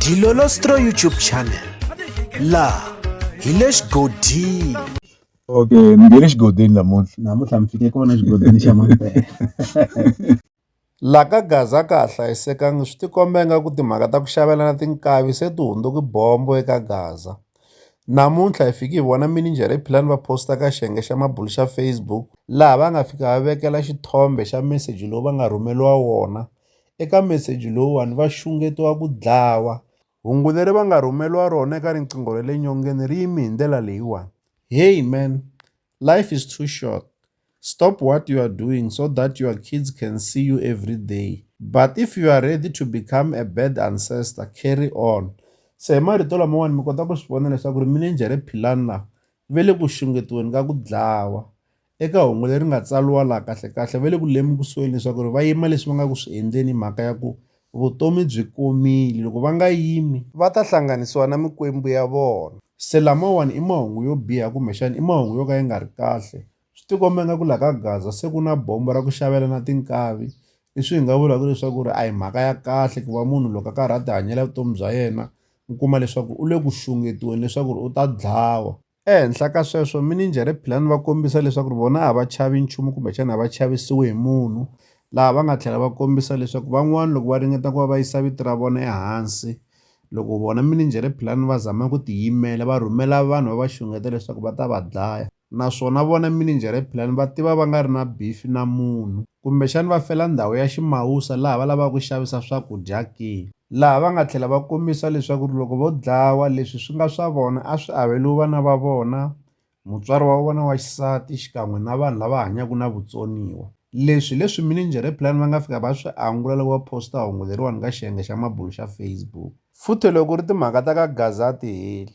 Dilolostro YouTube channel laha hi le xigodini okay ni nge le xigodini namuntlha namuntlha mi fike kona xigodini xa mampela laha ka gaza ka ha hlayisekanga swi tikomba nga ku timhaka ta ku xavelana tinkavi se ti hundzuki bombo eka gaza namuntlha hi fiki hi vona mininjere hi philani va posta ka xiyenge xa mabulu xa facebook laha va nga fika va vekela xithombe xa meseji lowu va nga rhumeliwa wona Eka meseji lowuwani va xungetiwa ku dlawa. Hungu leri va nga rhumeriwa rona eka riqingho ra le nyongeni ri yime hi ndlela leyiwani. Hey man, life is too short, stop what you are doing so that your kids can see you everyday, but if you are ready to become a bad ancestor, carry on. Se hi marito lamawani mi kota ku swi vona leswaku ri minenjhere Philani lava ve le ku xungetiweni ka ku dlawa. Eka hungu leri nga tsariwa laha kahlekahle va le ku lemukisweni leswaku ri va yima leswi va nga ku swi endleni mhaka ya ku vutomi byi komile loko va nga yimi va ta hlanganisiwa na mikwembu ya vona. Se lamawani i mahungu yo biha kumbexana i mahungu yo ka ya nga ri kahle. Swi tikomba ingaku laha ka Gaza se ku na bombo ra ku xavelana tinkavi leswi hi nga vulaka leswaku ri a hi mhaka ya kahle ku va munhu loko a karhi a tihanyela vutomi bya yena u kuma leswaku u le ku xungetiweni leswaku ri u ta dlawa. Ehenhla ka sweswo, minijhere Philani va kombisa leswaku vona a va chavi nchumu kumbexana a va chavisiwi hi munhu, laha va nga tlhela va kombisa leswaku van'wana loko va ringeta ku va va yisa vito ra vona ehansi, loko vona minijhere Philani va zama ku tiyimela, va rhumela vanhu va va xungeta leswaku va ta va dlaya. Naswona vona minijhere Philani va tiva va nga ri na bifi na munhu. Kumbexana va fela ndhawu ya ximawusa laha va lavaka ku xavisa swakudya ke? Laha va nga tlhela va kombisa leswaku loko vo dlawa, leswi swi nga swa vona a swi averiwi vana va vona, mutswari wa vona wa xisati xikan'we na vanhu lava hanyaka na vutsoniwa. Leswi hi leswi mininjhere-pulani va nga fika va swi angula loko va phosta hungu leriwani ka xiyenge xa mabulu xa Facebook. Futheloko ri timhaka ta ka Gaza a ti heli.